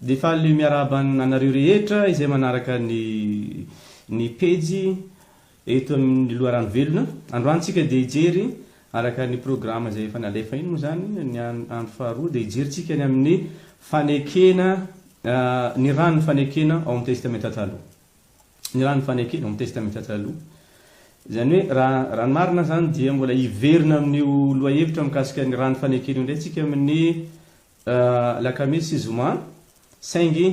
Dia faly miarahaba anareo rehetra izay manaraka ny ny pejy eto amin'ny Loharano Velona. Androany tsika dia hijery araka ny programa izay efa nalefa iny moa izany ny andro faharoa dia hijery tsika ny amin'ny fanekena ny ran'ny fanekena ao amin'ny Testamenta Taloha. ny raha ny fanekena ao amin'ny Testamenta Taloha. Izany hoe, raha, raha ny marina izany dia mbola hiverina amin'io lohahevitra mikasika ny raha ny fanekena io indray isika amin'ny alakamisy sy zoma, saingy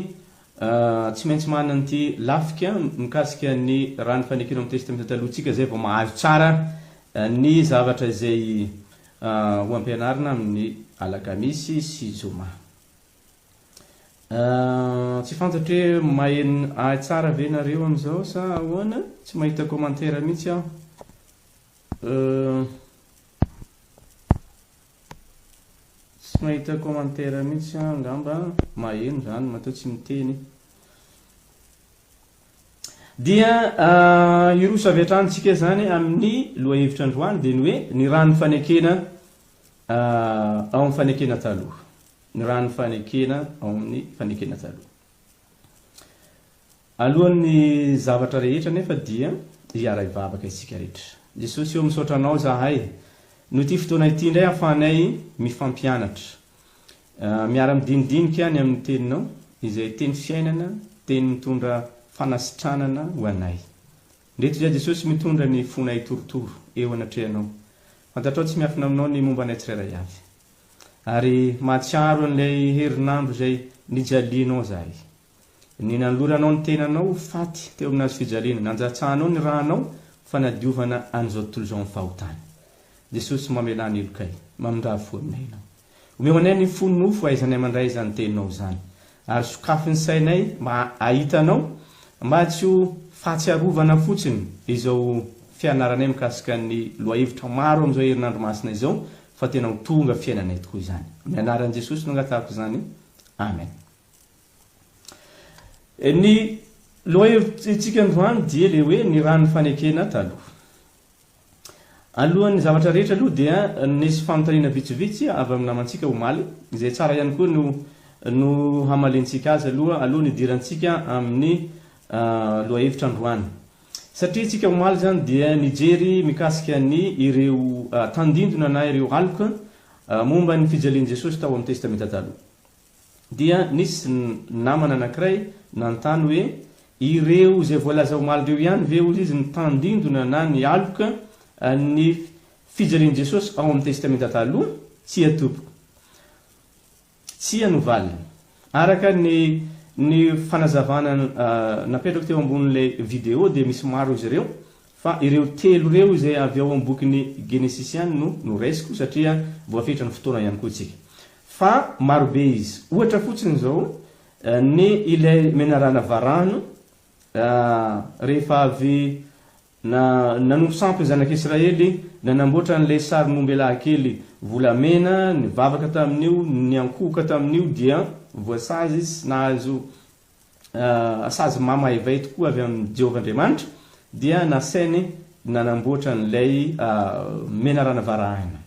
tsy maintsy manana an'ity lafika mikasika ny raha ny fanekena ao amin'ny Testamenta Taloha isika izay vao mahazo tsara ny zavatra izay ho ampianarina amin'ny alakamisy sy zoma. Ahh tsy fantatro hoe maheno ahy tsara ve nareo amin'izao sa ahoana, tsy mahita commentaire mihitsy aho euh, tsy mahita commentaire mihitsy aho angamba, maheno izany matoa tsy miteny dia ah, hiroso avy hatrany tsika izany amin'ny lohahevitra androany dia ny hoe ny rà ny fanekena ah, ao amin'ny fanekena taloha ny raha ny fanekena ao amin'ny fanekena taloha. Alohan'ny zavatra rehetra anefa dia hiaray vavaka isika rehetra. Jesosy ô, misaotra Anao izahay noho ity fotoana ity indray ahafahanay mifampianatra, miara-midinidinika ny amin'ny Teninao, izay Teny fiainana, Teny mitondra fanasitranana ho anay. Ndreto izahay Jesosy mitondra ny fonay torotoro eo anatrehanao. Fantatrao tsy miafina aminao ny momba anay tsirairay avy. Ary mahatsiaro an'ilay herinandro izay nijalianao izahay. Ny nanoloranao ny tenanao ho faty teo amin'ny hazo fijaliana, nanjatsahanao ny ranao fanadiovana an'izao tontolo izao amin'ny fahotany. Jesosy, mamelà ny helokay, mamindrafo aminay Ianao. Omeo anay ny fo nofo hahaizanay mandray izany Teninao izany. Ary sokafy ny sainay mba hahita anao, mba tsy ho fahatsiarovana fotsiny izao fianaranay mikasika ny lohahevitra maro amin'izao herinandro masina izao, fa tena ho tonga fiainanay tokoa izany. Amin'ny anaran'i Jesosy no angatahako izany. Amen. Ny lohahevitsintsika androany dia ilay hoe ny ran'ny fanekena taloha. Alohan'ny zavatra rehetra aloha dia nisy fanontaniana vitsivitsy avy amin'ny namantsika omaly, izay tsara ihany koa no no hamaliantsika azy aloha alohan'ny hidirantsika amin'ny lohahevitra androany. Satria isika omaly izany dia nijery mikasika ny ireo tandindona na ireo aloka momba ny fijalian'i Jesosy tao amin'ny Testamenta Taloha. dia nisy namana anankiray nanontany hoe, Ireo izay voalaza omaly ireo ihany ve, hoy izy, no tandindona na nialoka ny fijalian'i Jesosy ao amin'ny Testamenta Taloha? Tsia tompoko. Tsia no valiny. Araka ny ny fanazavana napetrako teo ambonin'ilay video dia misy maro izy ireo Fa ireo telo ireo izay avy ao amin'ny bokin'ny Genesisy ihany no noraisiko satria voafetra ny fotoana ihany koa isika. Fa marobe izy. Ohatra fotsiny izao ny ilay menarana varano rehefa avy nanompo sampy ny zanak'i Israely, nanamboatra an'ilay sarin'ombelahy kely volamena, nivavaka tamin'io, niankohoka tamin'io dia voasazy sy nahazo sazy mamaivaay tokoa avy amin'i Jehovah Andriamanitra, dia nasainy nanamboatra an'ilay menarana varahina,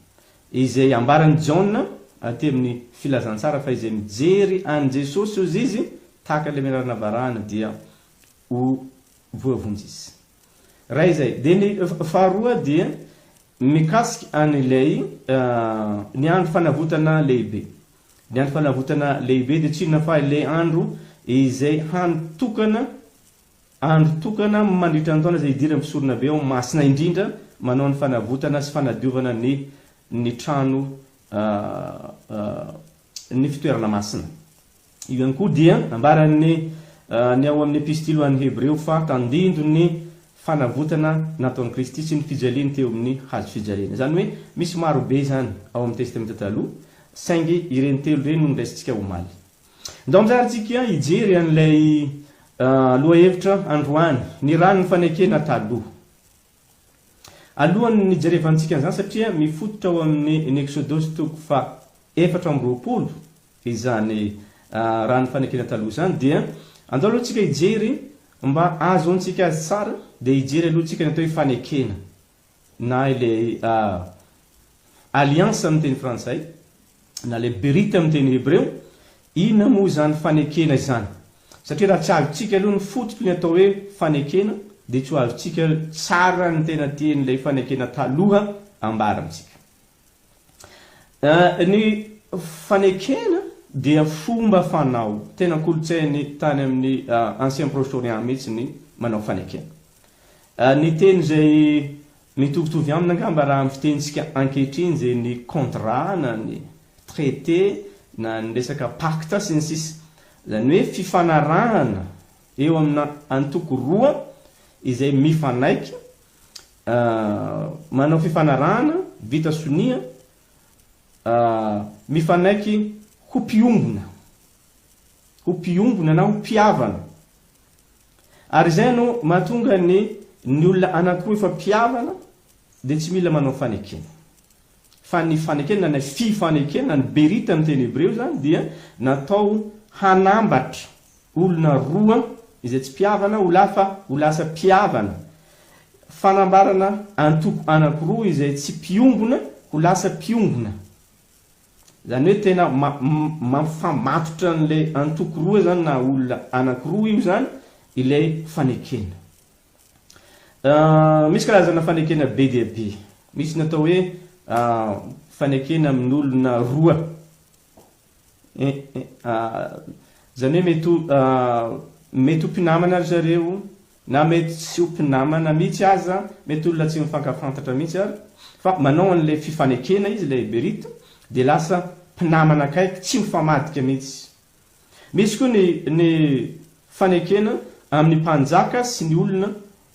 izay ambaran'i Jaona aty amin'ny Filazantsara fa izay mijery an'i Jesosy, hozy izy, tahaka ilay menarana varahina, dia ho voavonjy izy. Iray izay. Dia ny faharoa dia mikasika an'ilay ny andro fanavotana lehibe. Ny andro fanavotana lehibe dia tsy inona fa ilay andro izay hany tokana, andro tokana mandritra ny taona izay hidiran'ny mpisoronabe ao Masina indrindra manao ny fanavotana sy fanadiovana ny ny trano ny fitoerana masina. Io ihany koa dia ambaran'ny ny ao amin'ny Epistily ho an'ny Hebreo fa tandindon'ny fanavotana nataon'i Kristy sy ny fijaliany teo amin'ny hazo fijaliana. Izany hoe misy maro be izany ao amin'ny Testamenta Taloha, saingy ireny telo ireny no noraisintsika omaly. Ndao amin'izany tsika hijery an'ilay lohahevitra androany, ny ran'ny fanekena taloha. Alohan'ny hijerevantsika an'izany, satria mifototra ao amin'ny ny Eksodosy toko faha efatra amby roapolo, izany raha ny fanekena taloha izany dia andao aloha tsika hijery mba ahazoantsika azy tsara dia hijery aloha tsika ny atao hoe fanekena na ilay alliance amin'ny teny frantsay na ilay berite amin'ny teny hebreo inona moa izany fanekena izany satria raha tsy azontsika aloha ny fototry ny atao hoe fanekena dia tsy ho azontsika tsara ny tena tian'ilay fanekena taloha ambara amintsika Ny fanekena dia fomba fanao tena kolontsainy tany amin'ny Ancien Proche-Orient mihitsy ny manao fanekena. Ny teny izay mitovitovy aminy angamba raha amin'ny fitenintsika ankehitriny dia ny contrat na ny traité na ny resaka pacte sy ny sisa. Izany hoe fifanarahana eo amina antoko roa izay mifanaiky A, Manao fifanarahana vita sonia a, mifanaiky ho mpiombona, ho mpiombona na ho mpihavana. Ary izay no mahatonga ny ny olona anankiroa efa mpihavana dia tsy mila manao fanekena. Fa ny fanekena na fifanekena, ny berita amin'ny teny hebreo izany dia natao hanambatra olona roa izay tsy mpihavana ho lafa ho lasa mpihavana, fanambarana antoko anankiroa izay tsy mpiombona ho lasa mpiombona, izany hoe tena mampifamatotra an'ilay antoko roa izany na olona anankiroa io izany ilay fanekena. Misy karazana fanekena be dia be, misy ny atao hoe fanekena amin'olona roa, Eh eh ah, izany hoe mety ho mety ho mpinamana ry zareo na mety tsy ho mpinamana mihitsy aza, mety olona tsy mifankafantatra mihitsy ary fa manao an'ilay fifanekena izy ilay Eberita dia lasa mpinamana akaiky tsy mifamadika mihitsy. Misy koa ny ny fanekena amin'ny mpanjaka sy ny olona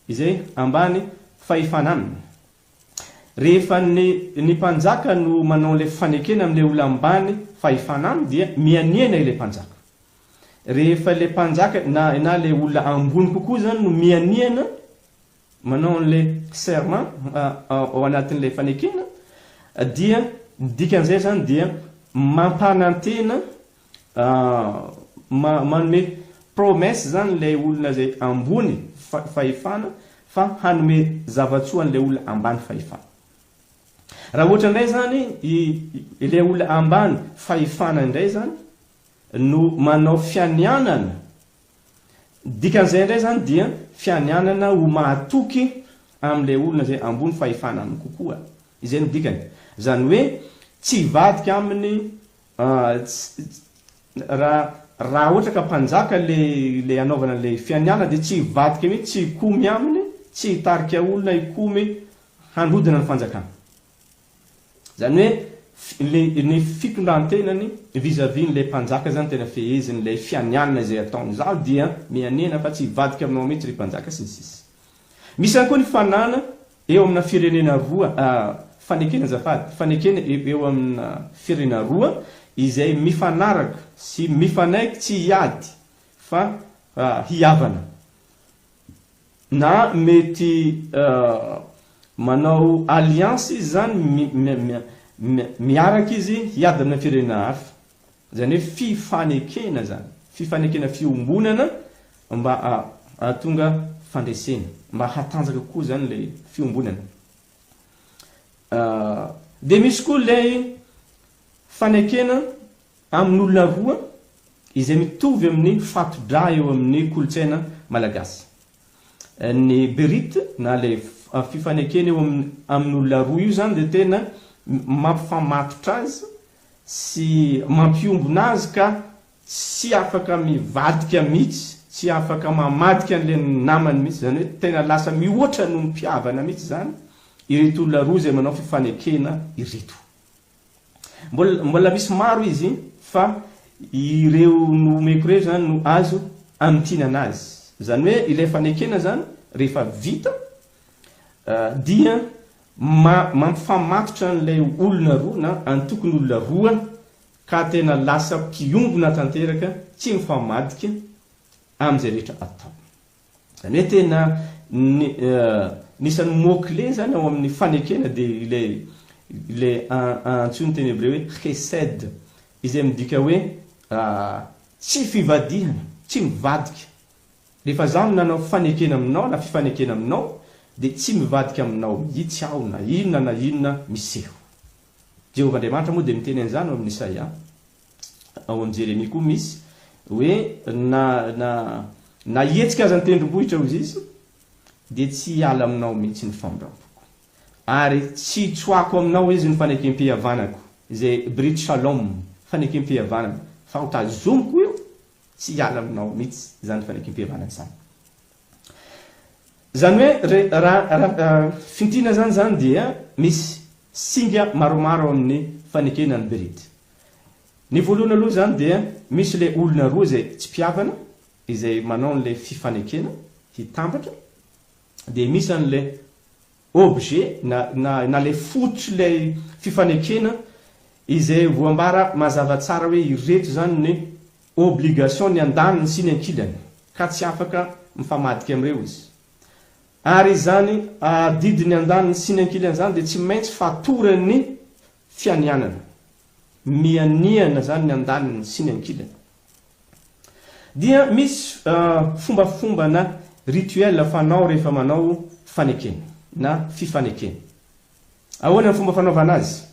izay ambany fahefana aminy. Rehefa ny ny mpanjaka no manao an'ilay fanekena amin'ilay olona ambany fahefana aminy dia mihanihana ilay mpanjaka. Rehefa ilay mpanjaka na na ilay olona ambony kokoa izany no mihanihana manao an'ilay serment ao anatin'ilay fanekena dia ny dikan'izay izany dia mampanantena Ahh manome promesse zany ilay olona izay ambony fahefana fa hanome zavatsoa an'ilay olona ambany fahefana. Raha ohatra indray izany ilay olona ambany fahefana indray izany no manao fianianana, dikan'izay indray izany dia fianianana ho mahatoky amin'ilay olona izay ambony fahefana aminy kokoa. Izay no dikany. Izany hoe tsy hivadika aminy Ts, Raha ohatra ka mpanjaka ilay hanaovana ilay fianianana dia tsy hivadika mihitsy tsy hikomy aminy, tsy hitarika olona hikomy handrodana ny fanjakana. Izany hoe ilay ny fitondran-tenany vis à vis an'ilay mpanjaka izany tena feheziny, ilay fianianana izay ataony. Izaho dia mianena fa tsy hivadika aminao mihitsy ry mpanjaka sy ny sisa Misy ihany koa ny fanana Eo amina firenena roa, fanekena azafady, fanekena eo amina firenena roa izay mifanaraka sy mifanaiky tsy hiady fa hihavana na mety manao alliance izy zany miaraka izy hiady amina firenena hafa. Izany hoe fifanekena izany, fifanekena fiombonana mba hahatonga fandresena, mba hatanjaka kokoa izany ilay fiombonana. Dia misy koa ilay fanekena amin'olona roa izay mitovy amin'ny fato-drà eo amin'ny kolontsaina malagasy. Ny berit na ilay fifanekena eo amin'olona roa io izany dia tena mampifamatotra azy sy mampiombona azy ka tsy afaka mivadika mihitsy, tsy afaka mamadika an'ilay namany mihitsy, izany hoe tena lasa mihoatra noho ny mpihavana mihitsy izany ireto olona roa izay manao fifanekena ireto. Mbola, mbola misy maro izy fa ireo nohomeko ireo izany no azo amintinana azy. Izany hoe ilay fanekena izany rehefa vita Dia mampifamatotra an'ilay olona roa na antokon'olona roa ka tena lasa mpiombona tanteraka tsy mifamadika amin'izay rehetra atao. Izany hoe tena anisan'ny mot clé izany ao amin'ny fanekena dia ilay ilay antsoin'ny teny hebreo hoe chesed izay midika hoe tsy fivadihana, tsy mivadika. Rehefa izaho no nanao fanekena aminao na fifanekena aminao, dia tsy mivadika aminao mihitsy aho na inona na inona miseho. Jehovah Andriamanitra moa dia miteny an'izany ao amin'i Isaia. Ao amin'i Jeremia koa misy hoe na na na hihetsika aza ny tendrombohitra, hoy Izy, dia tsy hiala aminao mihitsy ny famindrampoko. Ary tsy hitsoahako aminao, hoy Izy, ny fanekempihavanako, izay brit shalom, fanekempihavanana, fa hotazomiko io Tsy hiala aminao mihitsy izany fanekempihavanana izany. Izany hoe re, raha raha fintinina izany izany dia misy singa maromaro ao amin'ny fanekena ny berit. Ny voalohany aloha izany dia misy ilay olona roa izay tsy mpihavana, izay manao an'ilay fifanekena hitambatra, dia misy an'ilay objet na na na ilay fototr'ilay fifanekena izay voambara mazava tsara hoe ireto izany ny obligation ny andaniny sy ny ankilany ka tsy afaka mifamadika amin'ireo izy. Ary izany adidy ny andaniny sy ny ankilany izany dia tsy maintsy fatoran'ny fianianana. Mianiana izany ny andaniny sy ny ankilany. Dia misy fombafomba na rituel fanao rehefa manao fanekena na fifanekena. Ahoana ny fomba fanaovana azy?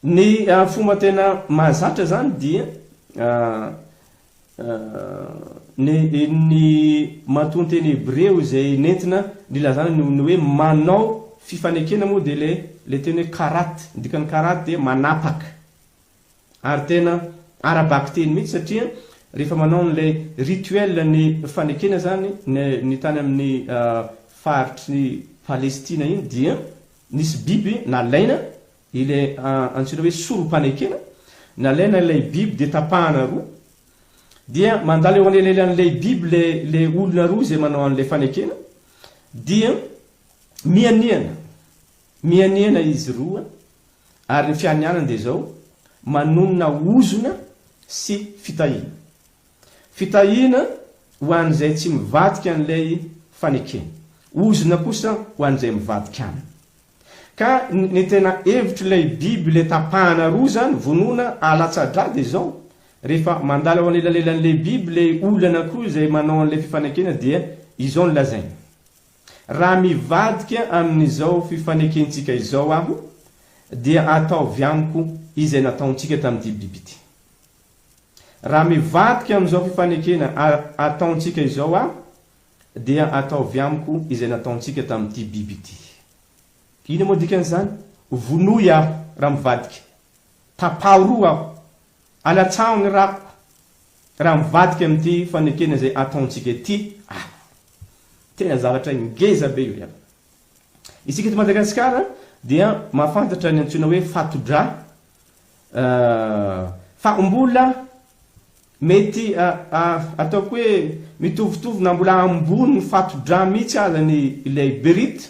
Ny fomba tena mahazatra izany dia ny ny matoanteny hebreo izay nentina nilazana ny hoe manao fifanekena moa dia ilay ilay teny hoe karat, ny dikan'ny karat dia manapaka. Ary tena ara-bakiteny mihitsy satria rehefa manao an'ilay rituel ny fanekena izany ny tany amin'ny faritry Palestina iny dia nisy biby nalaina ilay antsoina hoe sorom-panekena, nalaina ilay biby dia tapahana roa dia mandalo eo anelanelan'ilay biby ilay olona roa izay manao an'ilay fanekena dia mihanihana, mihanihana izy roa Ary ny fianianany dia izao, manonona ozona sy fitahiana. Fitahiana ho an'izay tsy mivadika an'ilay fanekena. Ozona kosa ho an'izay mivadika aminy. Ka ny tena hevitr'ilay biby ilay tapahana roa izany, vonoina alatsa-dra, dia izao, rehefa mandalo ao anelalelan'ilay biby ilay olona anankiroa izay manao an'ilay fifanekena dia izao no lazainy. Raha mivadika amin'izao fifanekentsika izao aho, dia ataovy amiko izay nataontsika tamin'ity biby ity. Raha mivadika amin'izao fifanekena ataontsika izao aho, dia ataovy amiko izay nataontsika tamin'ity biby ity. Inona moa dikan'izany? Vonoy aho raha mivadika. Tapaho roa aho. Alatsaho ny rako raha mivadika amin'ity fanekena izay ataontsika ity aho. Tena zavatra ngeza be io ry havana. Isika eto Madagasikara dia mahafantatra ny antsoina hoe fato-drà fa mbola mety ataoko hoe mitovitovy na mbola ambony ny fato-drà mihitsy aza ny ilay berite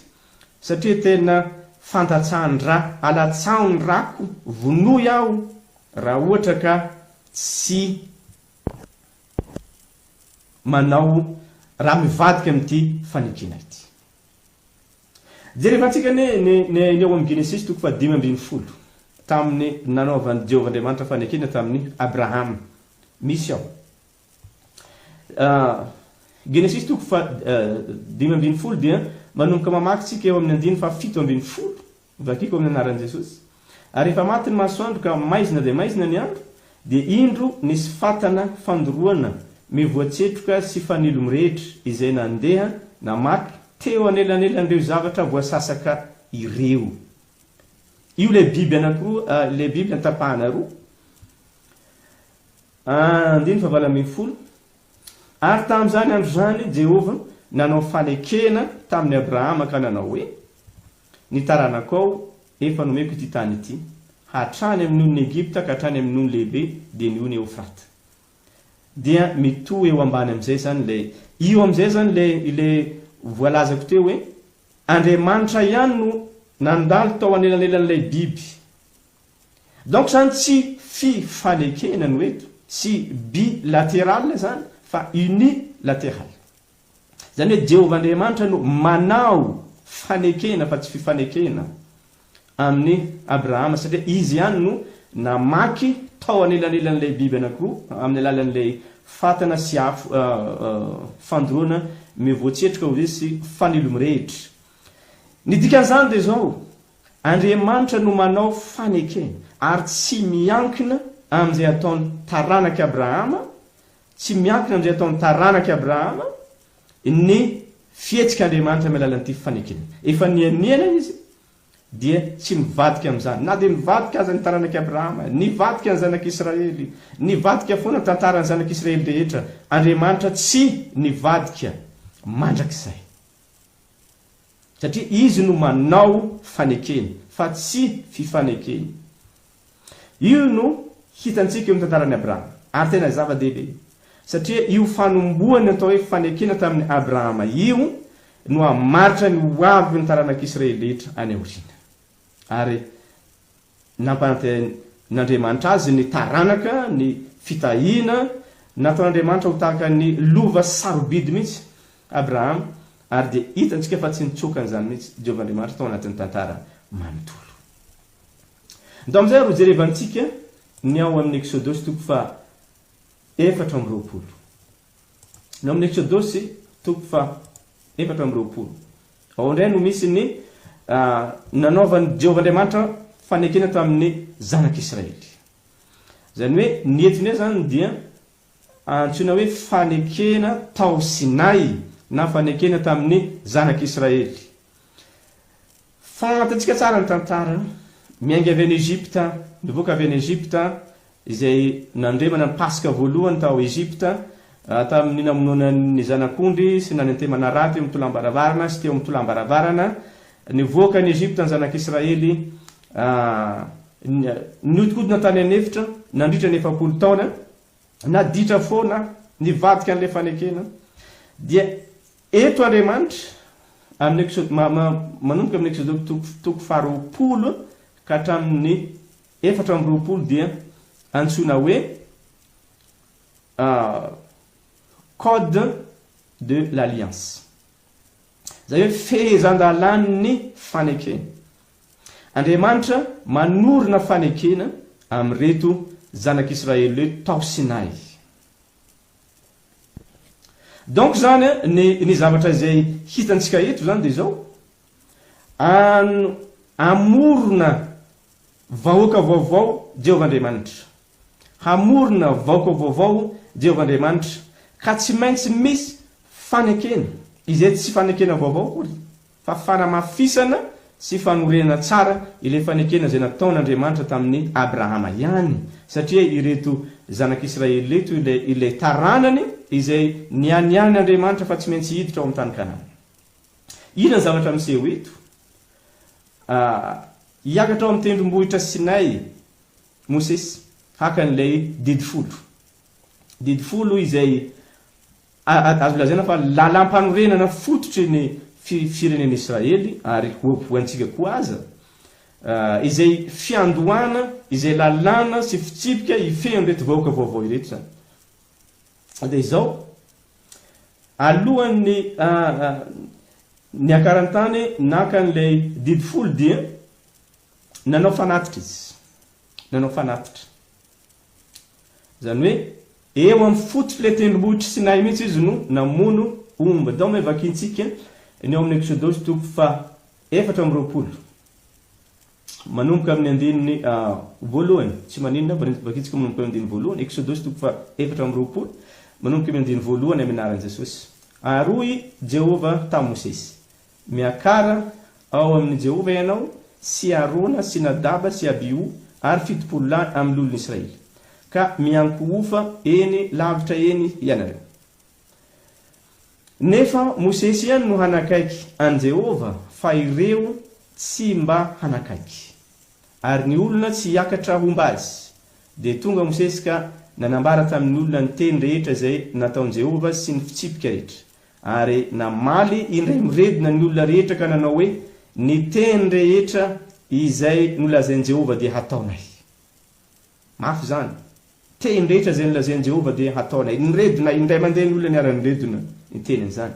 satria tena fandatsahan-drà. Alatsaho ny rako, vonoy aho Raha ohatra ka tsy manao, raha mivadika amin'ity fanitsiana ity. Jerevantsika ny ny ao amin'ny Genesisy toko fahadimy ambin'ny folo, tamin'ny nanaovan'i Jehovah Andriamanitra fanekena tamin'i Abrahama. Misy ao. Genesisy toko fahadimy ambin'ny folo dia manomboka mamaky tsika eo amin'ny andininy fahafito ambin'ny folo Vakiko amin'ny anaran'i Jesosy. Ary efa maty ny masoandro ka maizina dia maizina ny andro, dia indro nisy fatana fandoroana mivoa tsetroka sy fanilo mirehitra izay nandeha namaky teo anelanelan'ireo zavatra voasasaka ireo. Io ilay biby anankiroa, ilay biby notapahana roa. Andininy fahavalo ambin'ny folo. Ary tamin'izany andro izany Jehovah nanao fanekena tamin'i Abrahama ka nanao hoe, Ny taranako ao efa nomeko ity tany ity, hatrany amin'ny nonon' Egypta ka hatrany amin'ny nono lehibe, dia ny ony Eofrata. Dia mitohy eo ambany amin'izay izany ilay, io amin'izay izany ilay, ilay voalazako teo hoe, Andriamanitra ihany no nandalo tao anelanelan'ilay biby Donc zany tsy fi fanekena no eto, tsy bi lateral zany fa uni lateral. Zany hoe Jehovah Andriamanitra no manao fanekena fa tsy fifanekena amin'i Abrahama satria izy ihany no namaky tao anelanelan'ilay biby anankiroa amin'ny alalan'ilay fatana sy afo fandoroana mivoatsetroka hoy izy sy fanilo mirehitra. Ny dikan'izany dia izao. Andriamanitra no manao fanekena ary tsy miankina amin'izay ataon'ny taranak'i Abrahama, tsy miankina amin'izay ataon'ny taranak'i Abrahama ny fihetsik'Andriamanitra amin'ny alalan'ity fanekena. Efa nianiana Izy dia tsy mivadika amin'izany. Na dia nivadika aza ny taranak'i Abrahama, nivadika ny zanak'i Israely, nivadika foana ny tantaran'ny zanak'i Israely rehetra, Andriamanitra tsy nivadika mandrakizay. Satria izy no manao fanekena fa tsy fifanekena. Io no hitantsika eo amin'ny tantaran'i Abrahama. Ary tena zava-dehibe. Satria io fanombohan'ny atao hoe fanekena tamin'i Abrahama io no hamaritra ny ho avin'ny taranak'Israely rehetra any aoriana. Ary nampanantenain'Andriamanitra azy ny taranaka, ny fitahiana. Nataon'Andriamanitra ho tahaka ny lova sarobidy mihitsy Abrahama, ary dia hitantsika fa tsy nitsoaka an'izany mihitsy Jehovah Andriamanitra tao anatin'ny tantara manontolo. Ndao amin'izay ary hojerevantsika ny ao amin'ny Eksodosy toko faha efatra amby roapolo. Ny ao amin'ny Eksodosy, toko faha efatra amby roapolo, ao indray no misy ny nanaovan'i Jehovah Andriamanitra fanekena tamin'ny zanak'Israely. Izany hoe ny eto indray izany dia antsoina hoe fanekena tao Sinay na fanekena tamin'ny zanak'Israely. Fantatsika tsara ny tantara. Miainga avy any Egypta, nivoaka avy any Egypta, izay nandremana ny Paska voalohany tao Egypta, tamin'ny namonoana ny zanak'ondry sy nanentemana rà teo amin'ny tolambaravarana sy teo amin'ny tolambaravarana. Nivoaka any Egypta ny zanak'Israely. Nihodinkodina tany an'efitra nandritra ny efapolo taona. Naditra foana, nivadika an'ilay fanekena. Dia Eto Andriamanitra, amin'ny Eksod, ma, ma, manomboka amin'ny Eksodoko toko, toko faharoapolo ka hatramin'ny efatra amby roapolo dia antsoina hoe ah, Code de l'Alliance. Izay hoe fehezan-dalàn'ny fanekena. Andriamanitra manorina fanekena amin'ireto zanak'Israely ireto tao Sinay. Donc zany a, ny ny zavatra izay hitantsika eto zany dia izao, an hamorona vahoaka vaovao Jehovah Andriamanitra. Hamorona vahoaka vaovao Jehovah Andriamanitra, ka tsy maintsy misy fanekena, izay tsy fanekena vaovao akory. fa fanamafisana sy fanorenana tsara ilay fanekena izay nataon'Andriamanitra tamin'i Abrahama ihany, satria ireto zanak'Israely ireto ilay ilay taranany izay nianian'Andriamanitra fa tsy maintsy hiditra ao amin'ny tany Kanana. Inona ny zavatra miseho eto? A, Hiakatra ao amin'ny tendrombohitra Sinay Mosesy haka an'ilay didy folo. Didy folo izay Azo lazaina fa lalam-panorenana fototry ny firenen'Israely, ary ho antsika koa aza, izay fiandohana izay lalàna sy fitsipika hifehy an'ireto vahoaka vaovao ireto izany. Dia izao, alohan'ny niakarany tany naka an'ilay didy folo dia nanao fanatitra izy, nanao fanatitra. Izany hoe, eo amin'ny fototr'ilay tendrombohitr'i Sinay mihitsy izy no namono omby. Atao ny hoe vakintsika ny ao amin'ny Eksodosy toko fahaefatra amby roapolo, manomboka amin'ny andininy voalohany. Tsy maninona, vakintsika manomboka amin'ny andininy voalohany, Eksodosy toko fahaefatra amby roapolo, manomboka amin'ny andininy voalohany amin'ny anaran'i Jesosy. Ary hoy Jehovah tamin'i Mosesy, Miakara ao amin' i Jehovah ianao sy Arona sy Nadaba sy Abiho ary fitopolo lahy amin' ny olon' Israely, ka miankohofa eny lavitra eny ianareo. Nefa Mosesy ihany no hanakaiky an'i Jehovah, fa ireo tsy mba hanakaiky. Ary ny olona tsy hiakatra homba azy. Dia tonga Mosesy ka nanambara tamin' ny olona ny teny rehetra izay nataon'i Jehovah sy ny fitsipika rehetra. Ary namaly indray miredona ny olona rehetra ka nanao hoe, Ny teny rehetra izay nolazain'i Jehovah dia hataonay. Mafy izany! Teny rehetra izay nolazain'i Jehovah dia hataonay. Niredona indray mandeha ny olona niara-niredona ny tenin'izany.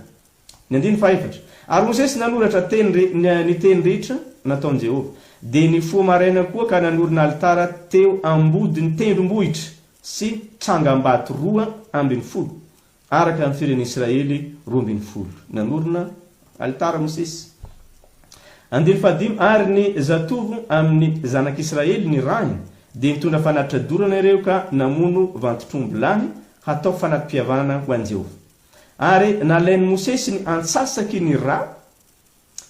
Ny andininy fahefatra. Ary Mosesy nanoratra teny ny teny rehetra nataon'i Jehovah. Dia nifoha maraina koa ka nanorina alitara teo ambodin'ny tendrombohitra sy trangambato roa ambin'ny folo, Araka ny firen'ny Israely roa ambin'ny folo, nanorina alitara Mosesy. Andiany fahadimy, Ary ny zatovo amin'ny zanak'Israely nirahiny dia nitondra fanatitra dorana ireo ka namono vantotr'omby lahy hatao fanati-pivavahana ho an'i Jehovah. Ary nalain'i Mosesy ny antsasaky ny ra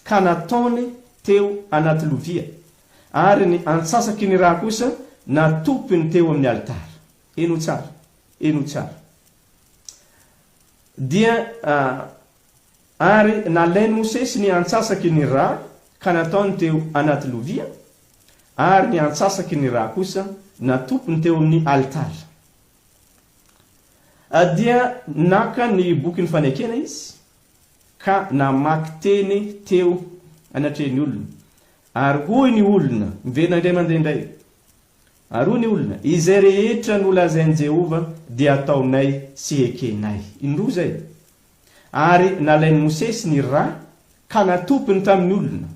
ka nataony teo anaty lovia, ary ny antsasaky ny ra kosa natopiny teo amin'ny alitara. Heno tsara, heno tsara. Dia Ary nalain'i Mosesy ny antsasaky ny rà ka nataony teo anaty lovia, ary ny antsasaky ny rà kosa natopiny teo amin'ny alitara. Dia naka ny bokin'ny fanekena izy ka namaky teny teo anatrehan'ny olona. Ary hoy ny olona, miverina indray mandeha indray, Ary hoy ny olona, Izay rehetra nolazain'i Jehovah dia ataonay sy ekenay. Indroa izay. Ary nalain'i Mosesy ny ra ka natopiny tamin'ny olona.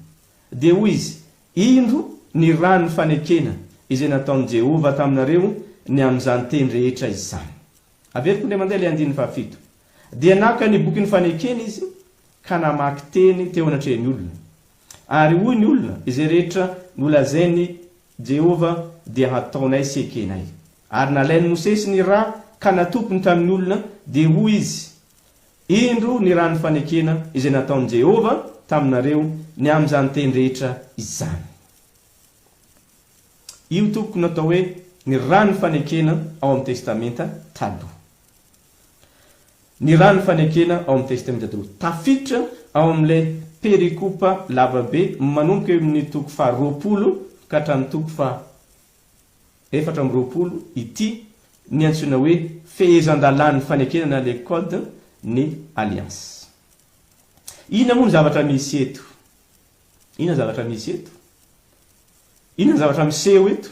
Dia hoy izy, Indro ny ran'ny fanekena izay nataon'i Jehovah taminareo ny amin'izany teny rehetra izany. Averiko indray mandeha ilay andininy fahafito. Dia naka ny bokin'ny fanekena izy ka namaky teny teo anatrehan'ny olona. Ary hoy ny olona, Izay rehetra nolazain'i Jehovah dia hataonay sy ekenay. Ary nalain'i Mosesy ny ra ka natopiny tamin'ny olona, dia hoy izy, Indro ny ran'ny fanekena izay nataon'i Jehovah taminareo ny amin'izany teny rehetra izany. Io, tompoko, no atao hoe ny ran'ny fanekena ao amin'ny Testamenta Taloha. Ny rà ny fanekena ao amin'ny Testamenta Taloha. Tafiditra ao amin'ilay perikopa lavabe manomboka eo amin'ny toko faha roapolo ka hatramin'ny toko faha efatra amby roapolo ity ny antsoina hoe fehezan-dalàn'ny fanekena na le Code ny Alliance. Inona moa ny zavatra misy eto? Inona ny zavatra misy eto? Inona ny zavatra miseho eto?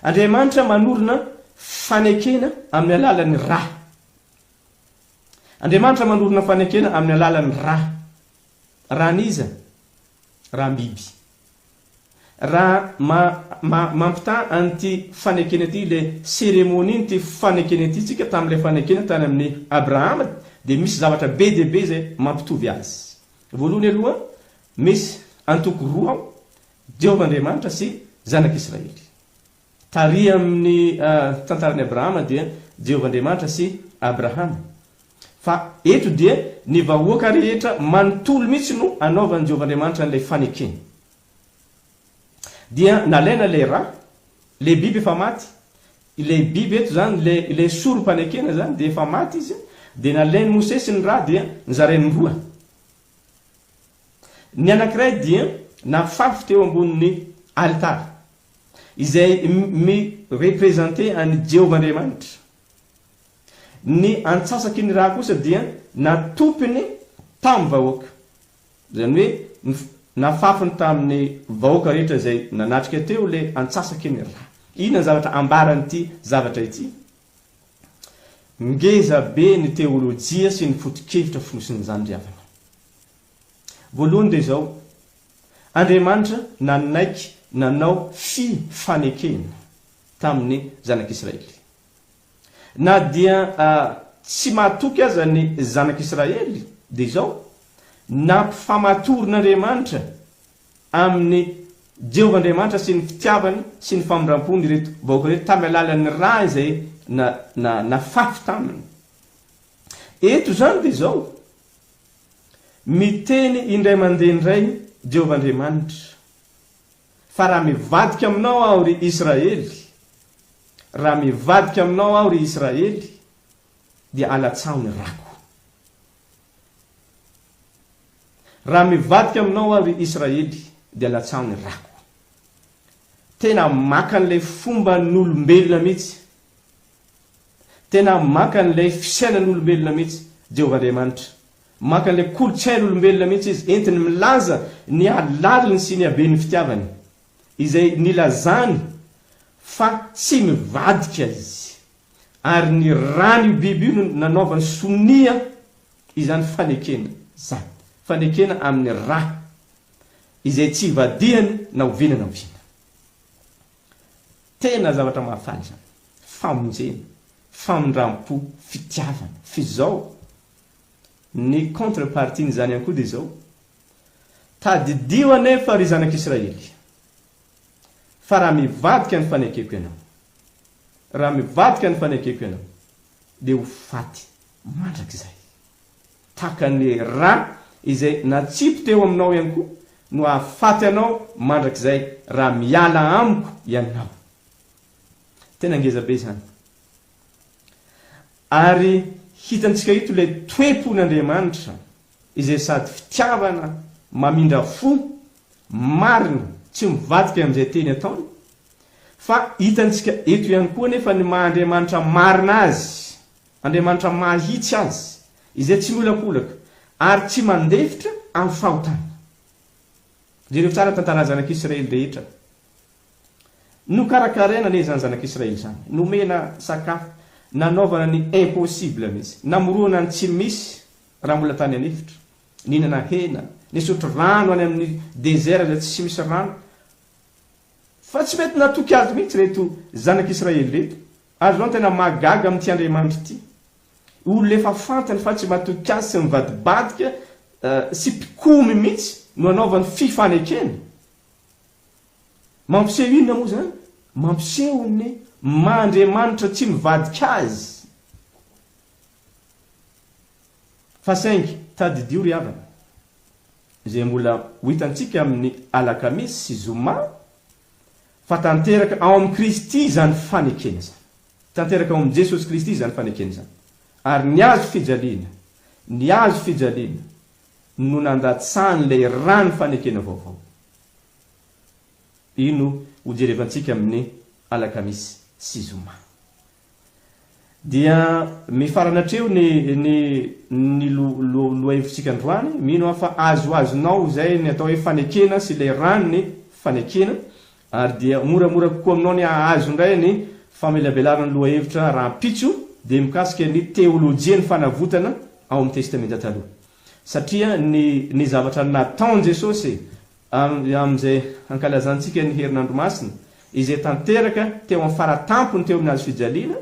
Andriamanitra manorina fanekena amin'ny alalan'ny ra. Andriamanitra manorina fanekena amin'ny alalan'ny ra. Ran'iza? Ram-biby. Raha ma, ma, mampitaha an'ity fanekena ity, ilay seremonian'ity fanekena ity tsika tamin'ilay fanekena tany amin'ny Abrahama, dia misy zavatra be dia be izay mampitovy azy. Voalohany aloha, misy antoko roa ao, Jehovah Andriamanitra sy Zanak'Israely. Tary amin'ny tantaran'i Abrahama dia Jehovah Andriamanitra sy Abrahama. Fa eto dia ny vahoaka rehetra manontolo mihitsy no anaovan'i Jehovah Andriamanitra an'ilay fanekeny. Dia nalaina ilay ra, ilay biby efa maty, ilay biby eto izany, ilay, ilay sorom-panekena izany dia efa maty izy, dia nalain'i Mosesy ny ra dia nizarainy roa. Ny anankiray dia nafafy teo ambonin'ny alitara, izay mi-representer an'i Jehovah Andriamanitra. Ny antsasaky ny rà kosa dia natopiny tamin'ny vahoaka, izany hoe nafafiny tamin'ny vahoaka rehetra izay nanatrika teo ilay antsasaky ny rà. Inona ny zavatra ambaran'ity zavatra ity? Ngeza be ny teolojia sy ny foto-kevitra fonosin'izany ry havana. Voalohany dia izao, Andriamanitra nanaiky nanao fi fanekena tamin'ny zanak'Israely. Na dia tsy mahatoky aza ny zanak'Israely dia izao, nampifamatorin'Andriamanitra amin'i Jehovah Andriamanitra sy ny fitiavany sy ny famindrampony ireto vahoaka ireto tamin'ny alalan'ny ra izay na, na, nafafy taminy. Eto izany dia izao, Miteny indray mandeha indray Jehovah Andriamanitra, Fa raha mivadika aminao aho, ry Israely, raha mivadika aminao aho, ry Israely, dia alatsaho ny rako. Raha mivadika aminao aho, ry Israely, dia latsaho ny rako. Tena maka an'ilay fomban'olombelona mihitsy, tena maka an'ilay fisainan'olombelona mihitsy Jehovah Andriamanitra. Maka an'ilay kolontsain'olombelona mihitsy izy, entiny milaza ny halaliny sy ny haben'ny fitiavany, izay nilazany fa tsy mivadika izy. Ary ny ran'io biby io no nanaovany sonia izany fanekena izany, fanekena amin'ny ra izay tsy ivadihany na oviana na oviana. Tena zavatra mahafaly izany, famonjena, famindram-po, fitiavana. Fa izao, ny contre-partie-n'izany ihany koa dia izao, Tadidio anefa, ry zanak'Israely, Fa raha mivadika ny fanekeko ianao, raha mivadika ny fanekeko ianao, dia ho faty mandrakizay. Tahaka an'ilay rà izay natsipy teo aminao ihany koa no hahafaty anao mandrakizay raha miala amiko ianao. Tena ngeza be izany. Ary hitantsika eto ilay toe-pon'Andriamanitra izay sady fitiavana mamindra fo marina tsy mivadika amin'izay teny ataony, fa hitantsika eto ihany koa anefa ny maha Andriamanitra marina Azy, Andriamanitra mahitsy Azy, izay tsy miolakolaka ary tsy mandefitra amin'ny fahotana. Jereo tsara ny tantaran'ny zanak'Israely rehetra. Nokarakaraina anie izany zanak'Israely izany, nomena sakafo, nanaovana ny impossible mihitsy, namoroana ny tsy misy Raha mbola tany an'efitra, nihinana hena, nisotro rano any amin'ny dezera izay tsy misy rano. Fa tsy mety natoky Azy mihitsy ireto zanak'Israely ireto. Ary izao no tena mahagaga amin'ity Andriamanitra ity, olona efa fantany fa tsy matoky Azy sy mivadibadika sy mpikomy mihitsy no anaovany fifanekena. Mampiseho inona moa izany? Mampiseho ny maha Andriamanitra tsy mivadika Azy. Fa saingy tadidio ry havana, izay mbola ho hitantsika amin'ny alakamisy sy zoma, fa tanteraka ao amin'i Kristy izany fanekena izany. Tanteraka ao amin'i Jesosy Kristy izany fanekena izany. Ary ny hazo fijaliana, ny hazo fijaliana no nandatsahan'ilay ràn'ny fanekena vaovao. Io no hojerevantsika amin'ny alakamisy sy zoma. Dia mifarana hatreo ny ny ny lo lo lohahevitsika androany, mino aho fa azoazonao izay ny atao hoe fanekena sy ilay ran'ny fanekena, ary dia moramora kokoa aminao ny hahazo indray ny famelabelarana ny lohahevitra rahampitso, dia mikasika ny teolojian'ny fanavotana ao amin'ny Testamenta Taloha. Satria ny ny zavatra nataon'i Jesosy Avy amin'izay hankalazantsika ny Herinandro Masina, izay tanteraka teo amin'ny fara-tampony teo amin'ny Hazo fijaliana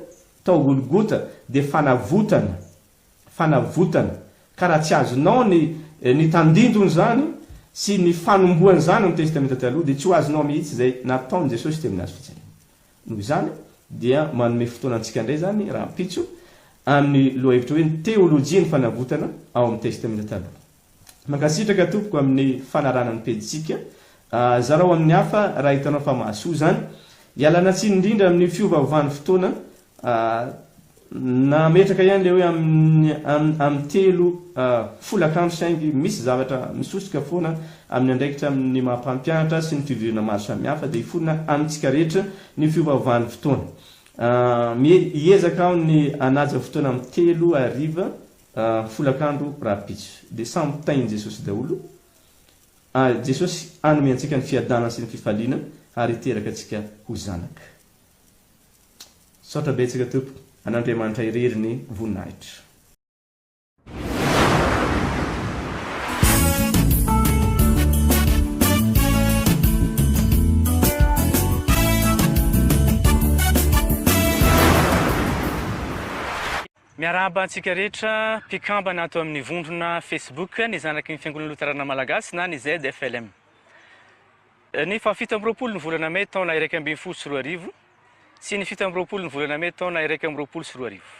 tao Golgota, dia fanavotana, fanavotana, ka raha tsy azonao ny ny tandindon'izany sy ny fanombohan'izany amin'ny Testamenta Taloha, dia tsy ho azonao mihitsy izay nataon'i Jesosy teo amin'ny Hazo fijaliana. Noho izany dia manome fotoana antsika indray izany rahampitso amin'ny lohahevitra hoe ny teolojian'ny fanavotana ao amin'ny Testamenta Taloha. Mankasitraka tompoko amin'ny fanarahana ny pejintsika. Zarao amin'ny hafa raha hitanao fa mahasoa izany. Ialana tsiny indrindra amin'ny fiovaovan'ny fotoana. Nametraka ihany ilay hoe amin'ny amin'ny telo folakandro saingy misy zavatra misosoka foana amin'ny andraikitra amin'ny maha mpampianatra sy ny fivoriana maro samihafa dia hiforona amintsika rehetra ny fiovaovan'ny fotoana. Hiezaka aho ny hanaja fotoana amin'ny telo hariva. folakandro rahampitso dia samy tahin'i Jesosy daholo, ary Jesosy hanome antsika ny fiadanana sy ny fifaliana ary hiteraka antsika ho zanaka. Misaotra betsaka Tompo, an'Andriamanitra irery ny voninahitra. Miarahaba antsika rehetra mpikambana ato amin'ny vondrona Facebook ny zanaky ny Fiangonana Loterana Malagasy na ny ZFLM. Ny fahafito amby roapolo ny volana mey taona iraika ambin'ny folo sy roa arivo sy ny fito amby roapolo ny volana mey taona iraika amby roapolo sy roa arivo.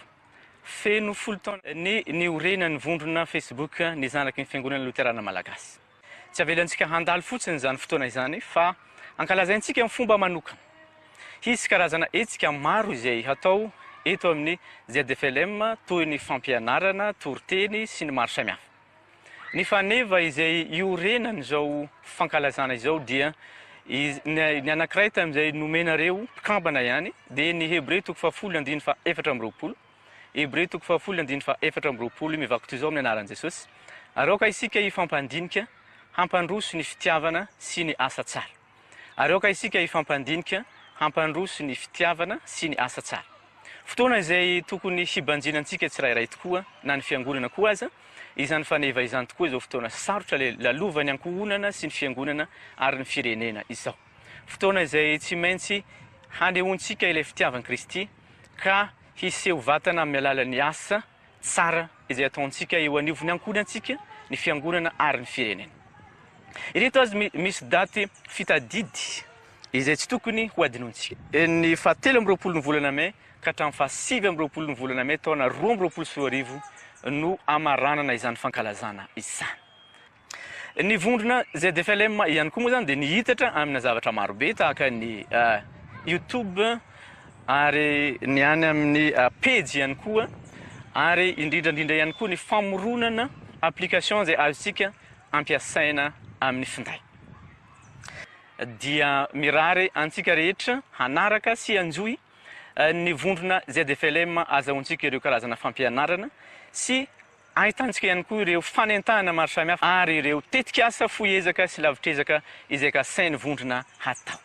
Feno folo taona ny niorenan'ny vondrona Facebook ny zanaky ny Fiangonana Loterana Malagasy. Tsy avelantsika handalo fotsiny izany fotoana izany fa ankalazaintsika amin'ny fomba manokana. Hisy karazana hetsika maro izay hatao eto amin'ny ZFLM toy ny fampianarana, toriteny sy ny maro samihafa. Ny faneva izay iorenan'izao fankalazana izao dia ny anankiray tamin'izay nomenareo mpikambana ihany dia ny Hebreo toko fahafolo andininy faha efatra amby roapolo. Hebreo toko fahafolo andininy fahaefatra amby roapolo mivakotoa izao amin'ny anaran'i Jesosy, Ary aoka isika hifampandinika hampandroso ny fitiavana sy ny asa tsara. Ary aoka isika hifampandinika hampandroso ny fitiavana sy ny asa tsara. Fotoana izay tokony hibanjina antsika tsirairay tokoa, na ny Fiangonana koa aza, izany faneva izany tokoa izao fotoana sarotra lalovan'ny ankohonana sy ny Fiangonana ary ny firenena izao. Fotoana izay tsy maintsy hanehoantsika ilay fitiavan'i Kristy, ka hiseho vatana amin'ny alalan'ny asa tsara izay ataontsika eo anivon'ny ankohonantsika, ny fiangonana ary ny firenena. Ireto azy misy daty fitadidy izay tsy tokony ho adinontsika. Ny faha telo amby roapolo ny volana mey ka hatramin'ny faha sivy amby roapolo ny volana mey taona roa amby roapolo sy roa arivo no hamaranana izany fankalazana izany. Ny vondrona ZFLM ihany koa moa izany dia nihitatra amina zavatra marobe tahaka ny Youtube ary ny any amin'ny pejy ihany koa ary indrindra indrindra ihany koa ny famoronana application izay azontsika ampiasaina amin'ny finday. Dia mirary antsika rehetra hanaraka sy hanjohy ny vondrona ZFLM azahoantsika ireo karazana fampianarana sy Ahitantsika ihany koa ireo fanentahana maro samihafa ary ireo tetikasa fohy ezaka sy lavitr'ezaka izay kasain'ny vondrona hatao.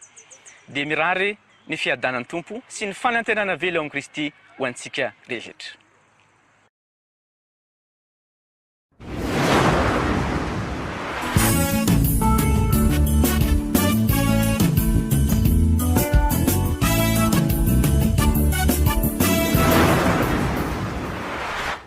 Dia mirary ny fiadanan'ny Tompo sy ny fanantenana avela ao amin'i Kristy ho antsika rehetra.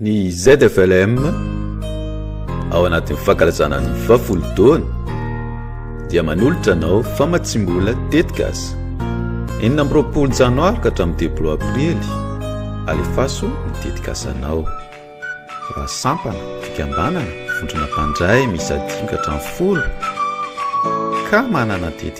Ny ZFLM ao anatin'ny fankalazana ny vafolodoany dia manolotra anao famatsiam-bola tetikasa enina amby roapolo janoary ka hatramin'ny telopolo aprily alefaso ny tetikasanao raha sampana fikambanana vondrona mpandray miisa dimy ka hatramin'ny folo ka manana tetikasa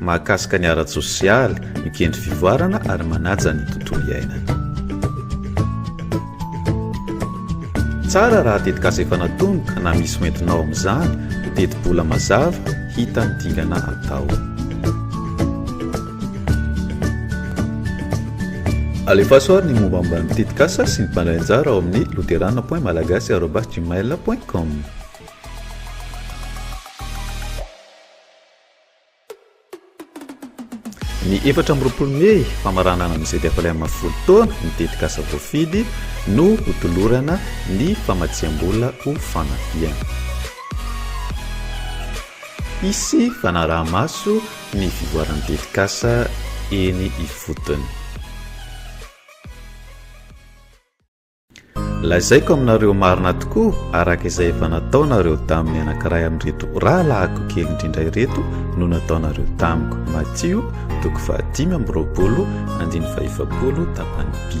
mahakasika ny ara-tsosialy, mikendry fivoarana ary manaja ny tontolo iainana. Tsara raha tetikasa efa natomboka na misy ho entinao amin'izany, ho tetibola mazava, hita ny dingana atao. Alefaso ary ny mombamomba ny tetikasa sy ny mpandray anjara ao amin'ny luterana point malagasy arobas gmail point com. Ny efatra amby roapolo mey, famaranana ny ZFLM folo taona, ny tetikasa voafidy no hotolorana ny famatsiam-bola ho fanafihana. Hisy fanaraha-maso ny fivoaran'ny tetikasa eny ifotony. Lazaiko aminareo marina tokoa, araka izay efa nataonareo tamin'ny anankiray amin'ireto rahalahiko kely indrindra ireto no nataonareo tamiko. Matio, toko fahadimy amby roapolo, andiny fahefapolo, tapany bi.